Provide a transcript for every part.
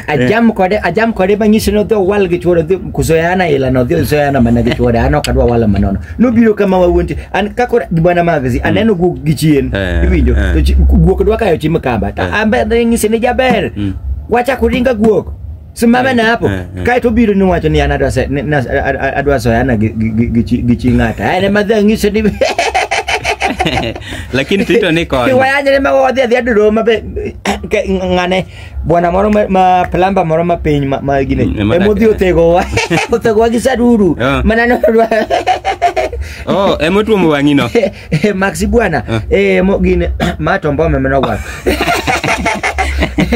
ajam kode ajam kode manyisi ni odhi owal gi chuore odhi kuzoyana ila no odhi ozoyana mana gi chuore an ok adwa wala manono nobiro kama wawuonti an kako bwana magzi aneno guok gi chien Eh, iwinjo eh. to chi- guok dwa kayo chi mkamba ta ambe nyisi ni jaber wachako ringa guok simame na hapo eh, eh. kae to biro niwacho ni an adwa se- ni- nas- a- a- adwa soyana gi- gi- gi- gi chi- gi chi ng'ata en ema dhi ang'iso ni lakini tito ni kod kiwayanyre ma wadhi adhi adiro ma be ke- ng'ane bwana moro ma- ma plamba moro ma piny ma- ma gine Mm, ma emodhi dak- othegowa othegowa gi saduru Yeah. mana nodwa oh emotuomo wang'ino Eh, Maxi bwana eh, mo gini mato mbome mnogwa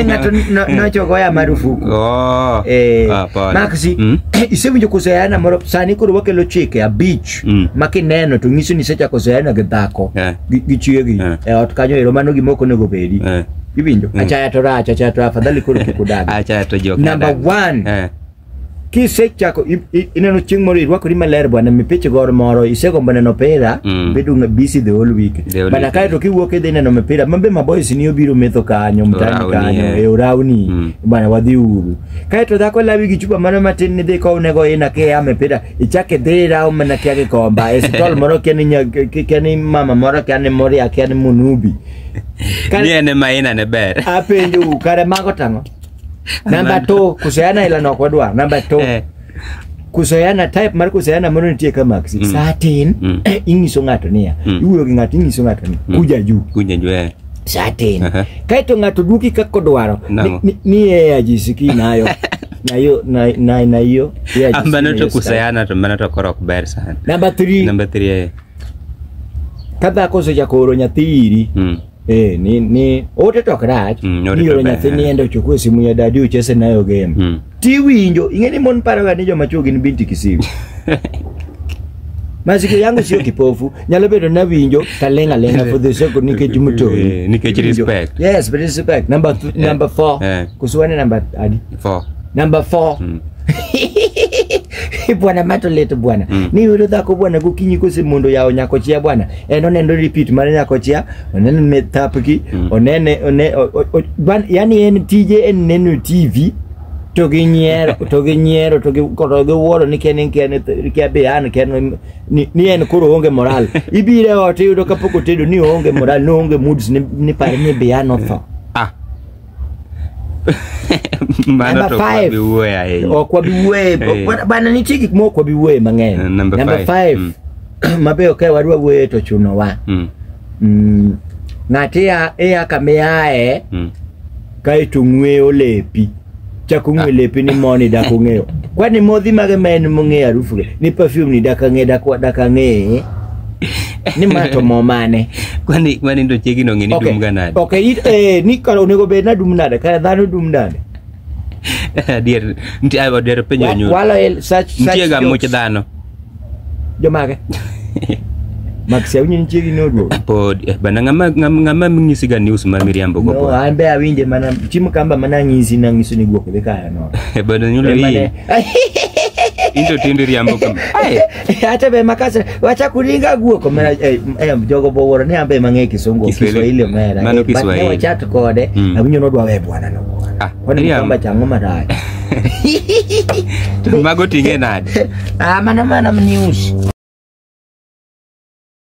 ng'ato no- nochogoya marufuku Oh. Eh, Ah, pole. Maxi Mm. isewinjo kozoyana moro sani koro wakelo chike abich Mm. ma kineno to ng'iso ni isechako zoyana gi dhako Eh. gi- gi chiegi Eh. e ot kanyo ero mano gima ok onego bedi Eh. iwinjo Mm. achaya to rach achaya to afadhali koro kik udag Acha to jok. number nadak. one Eh. kisechako i- i- ineno chieng' moro irwakori maler bwana mipich gor moro isegombo neno pira Mm. bedo nga busy the whole week The whole bana week. kae to kiwuok idhi neno mipira mambe maboys ni obiro metho kanyo mtani Orawni, kanyo eh. e orawni Mm. bwana wadhi uru kae to dhako lawi gi chupa mano matin nidhi kownego ina kia mipira ichake dhi rawo mana kia gikomba e sitol moro kia ni nya- ki- kia ni mama moro kia ni moria kia ni munubi Kare- ni en ema ina ne ber apenjou kare mago tang'o namba to kusoyana ila nok wadwa namba to Eh. kusoyana type mar kusoyana moro nitie ka maksi Mm. saa tin Mm. eh, ing'iso ng'ato niya Mm. iwuoyo gi ng'ato ing'iso ng'ato ni Mm. kuja juu Kuja juu eh. saa tin Aha. kaeto ng'ato duoki kaka odwaro Ni- Nang'o? ni- ni yeye ajisikii nayo nayo na- na- na hiyo yeye ajisikii Ambano nayo to sasa. kusayana to mano to koro ok ber sana. namba 3 Number 3 eh. ka dhako osechako oro nyathi iri Mm. Eh, ni ni ote to ok rach. Mm, ni ote Ni to yore ber. nyathi niende ochukue simu ya dadi uchese nayo game. Mm. Tiwinjo, ing'e ni mon paroga ni joma chwo gin binti kisiwi. Masikio yangu sio kipofu, nyalo bedo nawinjo talenga lenga for the sake of nikech mtoi. Eh, nikech Iwinjo. respect. Yes, but respect. Number th- number 4. Eh. Kusuane number adi? Four. number four Mm. bwana mato leto bwana Mm. ni yudo dhako bwana gokinyi kose mondo yawo nyako chia bwana en oneno repeat mar nyako chia oneno ne thapgi Mm. onene one, o, o, o, bwan, yani en tije en neno tv to gi nyiero to gi nyiero to gi to gi wuoro ni ken ken kia be an ken ni, ni en koro onge moral ibire ot iyudo kapok otedo ni onge moral ni onge moods ni, ni par ni be an otho Mano Number to kwa five. biwuoye ahinya. ok wabi wuoye Eh. ok- bana nitie gik ma ok wabi wuoye mang'eny Eh, number Number five. five, Mm. mabeyo ka wadwa wuoye to chunowa Mm, Mm, ng'ato iya iya kama iaye mm. kaeto ng'weyo lepi chak ong'we lepe ni moni dak ong'eyo kwani modhi mage ma en mong'eyo arufu ge ni perfume ni dak ang'e dak dak ang'e ni ma to mo mane Kwani kwani ndo chegi no ngeni dum ganade. okay it eh ni kalo onego bed na dum nade ka dhano dum nade Adier nti ayo dero penyo Wa- nyu. walo el such such Nitie ga much jokes. dhano. Jomage. Max awinjo ni chiegi noduogo. Pod eh, bana ng'ama ng'ama ng'ama ng'isiga news ma miriambo go No, pod. an be awinje mana chiemo kamba mana ng'isi na ng'iso ni guok dhi kaya no. Eh, Bana nyulo Be mana- hii. Into tindi riambo kama. Ai. Hata be makasa wacha kuringa guok mera eh, eh, jogo boworo ne ambe mang'e kisungu Kiswahili. kiswahili mera. Mano Eh, but ne Kiswahili. wachat kode Mm. awinjo nodwa we bwana no. bwana. Ah, Kwani Miriam. mkamba changu maraya. Mago ting'e nade? Ah, mana mana mniusi.